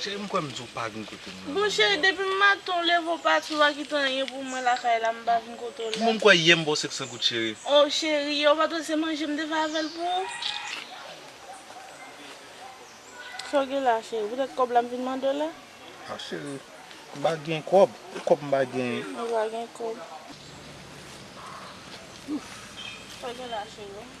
Cheri m kwè m di w pa vin kote m nan non. Bon cheri depi m maten w leve w pati w pa kite anyen pou mwen lakay la m pa vin kote w la. Bon m kwè yè m ba w 500 goud cheri. Oh cheri yè w pa t wè se manje m te fè avè l pou ou. Sa w gen la cheri poutèt kòb la m vin mande w la. Ah cheri m pa gen kòb ki kòb m pa gen. Ou pa gen kòb. Sa w gen la cheri.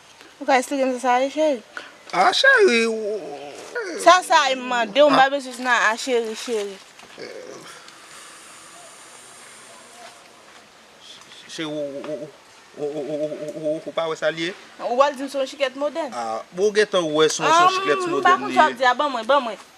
Ou ka esplike m sa sa ye cheri? A cheri ou. Sa sa ye m mande w m pa bezwen nan a cheri cheri. Cheri ou pa wè sa l ye? Ou pral di m se yon chiklet modèn. Ou gentan wè se yon chiklet modèn li ye. M pa konn sa w ap di a ban mwen ban mwen.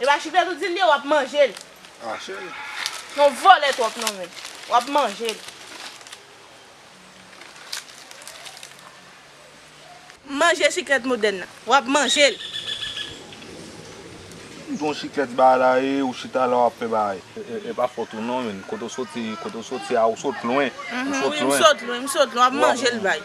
Epa chifèt ou dil ye wap manjel. Non vòlè twòp non men. Wap manjel. Manje chiklet modèn nan. Wap manjel. Gon chiklet ba la e ou chita la wap fè bagay. Epa fòt ou non men. Kote ou soti kote ou soti a ou sot lwen. Ou sot lwen. Wi m sot lwen m sot lwen wap manjel bay.